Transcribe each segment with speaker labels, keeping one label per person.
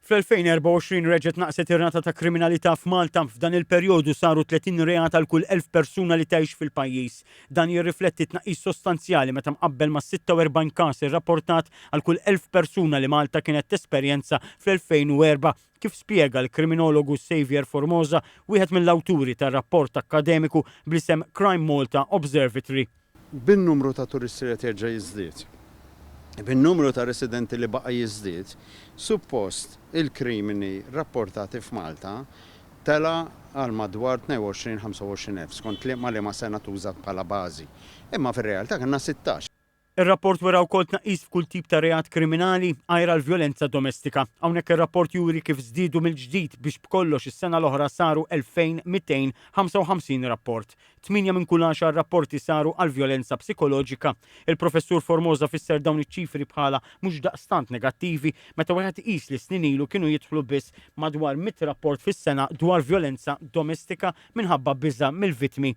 Speaker 1: Fl-2024 reġgħet naqset ir-rata ta' kriminalità f'Malta. F'dan il-perjodu saru 30 reat għal kull elf persuna li tgħix fil-pajjiż. Dan jirrifletti tnaqqis sostanzjali meta mqabbel mas-46 każ irrapportat għal kull elf persuna li Malta kienet tesperjenza fl-2004, kif spjega l-kriminologu Saviour Formosa, wieħed mill-awturi tar-rapport akkademiku bl-isem Crime Malta Observatory. bin-numru ta'
Speaker 2: turisti li qed jerġa' jiżdied, bin-numru ta' residenti li baqa' jiżdied, suppost il-krimini rapportati f'Malta tela' għal madwar 22, 25 elf, skont liema liema sena tuża bħala bażi. Imma fir-realtà kellna sittax. Ir-rapport wera
Speaker 1: wkoll tnaqqis f'kull tip ta' reat kriminali, għajr għall-vjolenza domestika. Hawnhekk ir-rapport juri kif żdiedu mill-ġdid biex b'kollox is-sena l-oħra saru 2,255 rapport. Tmienja minn kull għaxar rapporti saru għal vjolenza psikoloġika. Il-Professur Formosa fisser dawn iċ-ċifri bħala mhux daqstant negattivi meta wieħed iqis li snin ilu kienu jidħlu biss madwar mitt rapport fis-sena dwar vjolenza domestika minħabba biża' mill-vittmi.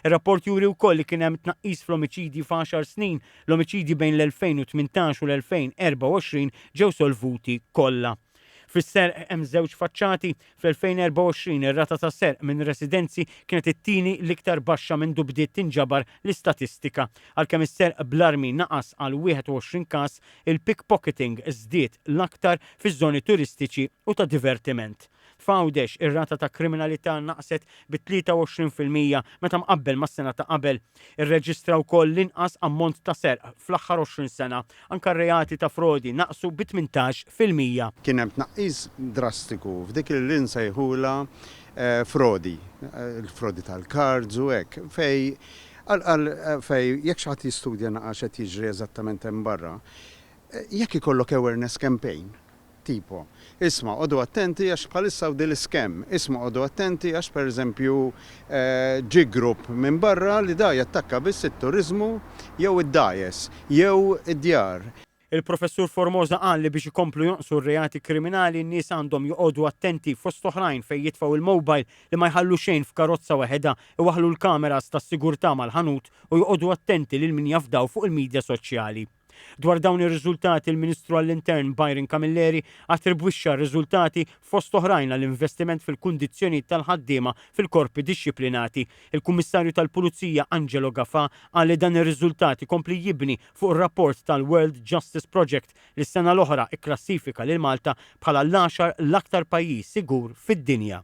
Speaker 1: Ir-rapport juri wkoll li kien hemm tnaqqis fl-omiċidji f'għaxar snin, l-omiċidji bejn l-2018 u l-2024 ġew solvuti kollha. Fis-serq hemm żewġ faċċati. Fl-2024 ir-rata ta' serq minn residenzi kienet it-tieni l-iktar baxxa mindu bdiet tinġabar l-istatistika. Għalkemm is-serq bl-armi naqas għal 21 każ, il-pickpocketing żdied l-aktar fiż-żoni turistiċi u ta' divertiment. F'Għawdex, ir-rata ta' kriminalità naqset bi 23 fil-mija meta mqabbel mas-sena ta' qabel. Irreġistra wkoll l-inqas ammont ta' serq fl-aħħar 20 sena. Anke r-reati ta' frodi naqsu bi 18 fil-mija. Kien hemm tnaqqis
Speaker 2: drastiku f'dik li nsejħulha frodi, il-frodi tal-cards u hekk, fejn qal qal fejn jekk xi ħadd jistudja naqra x'qed jiġri eżattament hemm barra, jekk ikollok awareness campaign Tipo, Isma' għodu attenti għax bħalissa hawn din l-iscam. Isma' għodu attenti għax pereżempju ġie grupp minn barra li da jattakka biss it-turiżmu jew id-dgħajjes jew id-djar. Il-Professur
Speaker 1: Formosa qal li biex ikomplu jonqsu r-reati kriminali n-nies għandhom joqogħdu attenti fost oħrajn fejn jitfgħu il-mobile, li ma jħallu xejn f'karozza weħedha, iwaħħlu l-kameras tas-sigurtà mal-ħanut u joqogħdu attenti lil min jafdaw fuq il-midja soċjali. Dwar dawn ir-riżultati l-Ministru għall-Intern Byron Camilleri attribwixxa r-riżultati fost oħrajn għal investiment fil-kundizzjonijiet tal-ħaddiema fil-korpi dixxiplinati. Il-Kummissarju tal-Pulizija Angelo Gafà qal li dan ir-riżultat ikompli jibni fuq ir-rapport tal-World Justice Project li s-sena l-oħra kklassifika lil Malta bħala l-għaxar l-aktar pajjiż sigur fid-dinja.